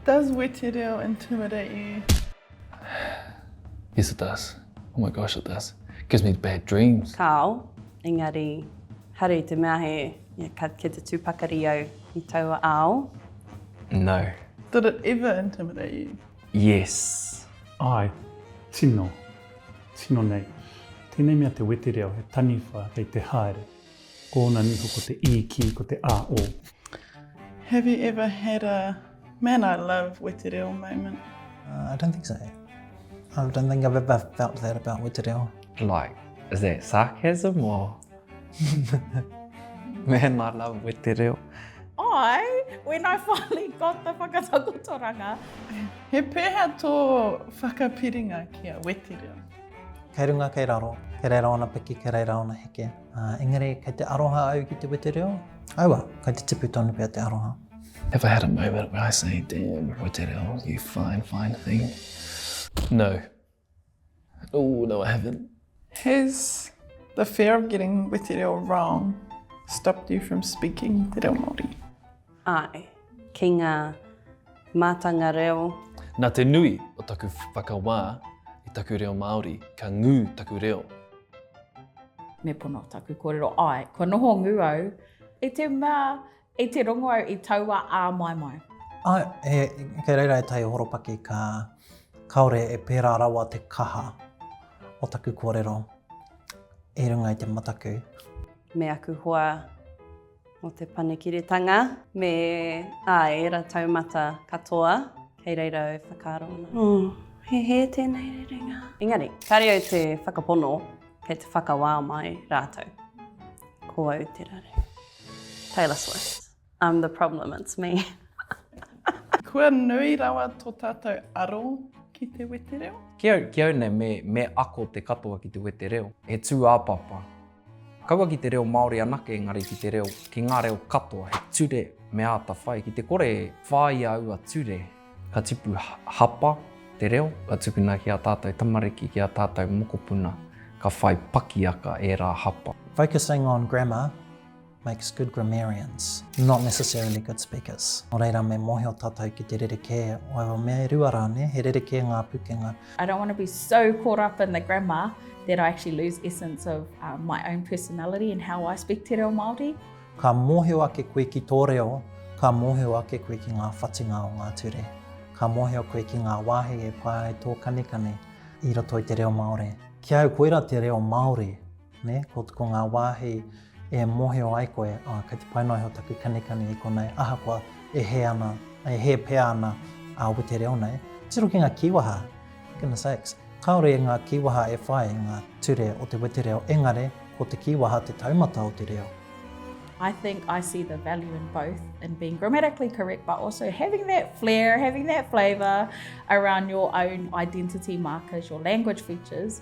Does wetereo intimidate you? Yes it does. Oh my gosh it does. It gives me bad dreams. Kāo, engari haere i te mea he ka kia te tū pakari au i taua ao. No. Did it ever intimidate you? Yes. Āe, tino, tino nei. Tēnei mea te wetereo he taniwha kei te haere. Ko ona niho ko te iki, ko te a'o. Have you ever had a man I love wetereo moment? I don't think so. I don't think I've ever felt that about wetereo. Like, is that sarcasm or man I love wetereo? I, when I finally got the whakatakotoranga. He peha to whakapiringa ki a wetereo? Kei runga, kei raro, kei reira ona piki, kei reira ona heke. Uh, engari, kei te aroha au ki te wete reo, aua, kei te tipu tonu pia te aroha. Have I had a moment where I say, damn, wete reo, you fine, fine thing? No. Oh, no, I haven't. Has the fear of getting wete reo wrong stopped you from speaking te reo Māori? Āe, ki ngā mātanga reo. Nā te nui o taku whakawā i taku reo Māori, ka ngū taku reo. Me pono taku kōrero, āe, kua noho ngū au i te mea i te rongo au i taua āmaimai. Āe, kei reira ētahi horopaki ka kāore e pērā rawa te kaha o taku kōrero i runga i te mataku. Me aku hoa o Te Panekiretanga me ā ērā taumata katoa kei reira e whakaaro ana. Oh, he hē tēnei rerenga. Engari, kāre au te whakapono kei te whakawā mai rātou. Ko au te rare. Taylor Swift. I'm the problem, it's me. Kua nui rawa tō tātou aro ki te wetereo? Ki au, ki au nei, me, me ako te katoa ki te wetereo. He tūāpapa. Kaua ki te reo Māori anake engari ki te reo, ki ngā reo katoa, he ture me āta whai. Ki te kore e whāia aua ture, ka tipu hapa te reo, ka tukuna ki ā tātou tamariki, ki ā tātou mokopuna, ka whai pakiaka ērā hapa. Focusing on grammar, makes good grammarians, not necessarily good speakers. Nō reira, me mōhio tātou ki te rerekē o aua mea e rua rā, ne? He rerekē ngā pukenga. I don't want to be so caught up in the grammar that I actually lose essence of uh, my own personality and how I speak te reo Māori. Ka mōhio ake koe ki tō reo, ka mōhio ake koe ki ngā whatinga o ngā ture. Ka mōhio koe ki ngā wāhi e pā ai tō kanikani i roto i te reo Māori. Ki au, koira te reo Māori. Nē, ko, ko ngā wāhi e mōhio ai koe, oh, kei te pai noa iho taku kanikani i konei, ahakoa e hē ana, e hē pea ana a Wete Reo nei, tiro ki ngā kīwaha, goodness sakes, kāore i ngā kīwaha e whai i ngā ture o te Wete Reo, engare, ko te kīwaha te taumata o te reo. I think I see the value in both, in being grammatically correct, but also having that flair, having that flavour around your own identity markers, your language features.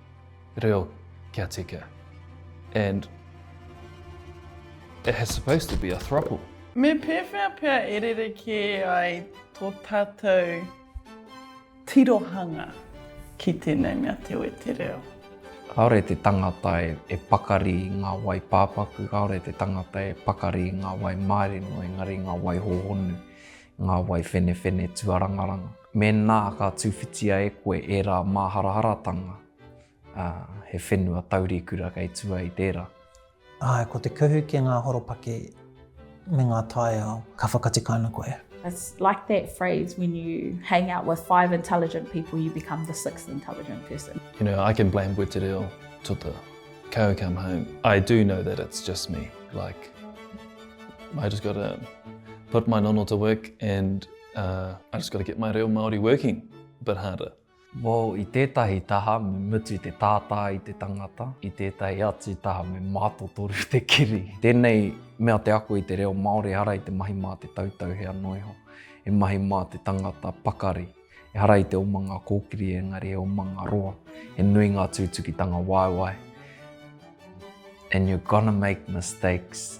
reo kia tika and it has supposed to be a thruple. Me pēwhea pea e rerekē ai tō tātou tirohanga ki tēnei mea te wetereo? Kāore te tangata e pakari i ngā wai pāpaku, kāore te tangata e pakari i ngā wai mārino, engari ngā wai hōhonu, ngā wai whenewhene tuarangaranga. Mēnā ka tūwhitia e koe ērā māharaharatanga, ā, he whenua taurikura kei tua i tērā. Āe, ko te kuhu ki ngā horopaki me ngā taiao, ka whakatika ana koe. It's like that phrase, when you hang out with five intelligent people, you become the sixth intelligent person. You know, I can blame Wetereo to the cow come home. I do know that it's just me, like, I just got to put my nono to work and Uh, I just got to get my reo Māori working a bit harder. Well, i tētahi taha me mutu te tātā i te tangata, i tētahi atu taha me mātotoru te kiri. Tēnei mea te ako i te reo Māori ehara i te mahi mā te tautau hea noa iho, e mahi mā te tangata pakari, ehara i te oma ngā kōkiri engari e oma ngā roa, e nui ngā tūtukitanga waewae. And you're gonna make mistakes.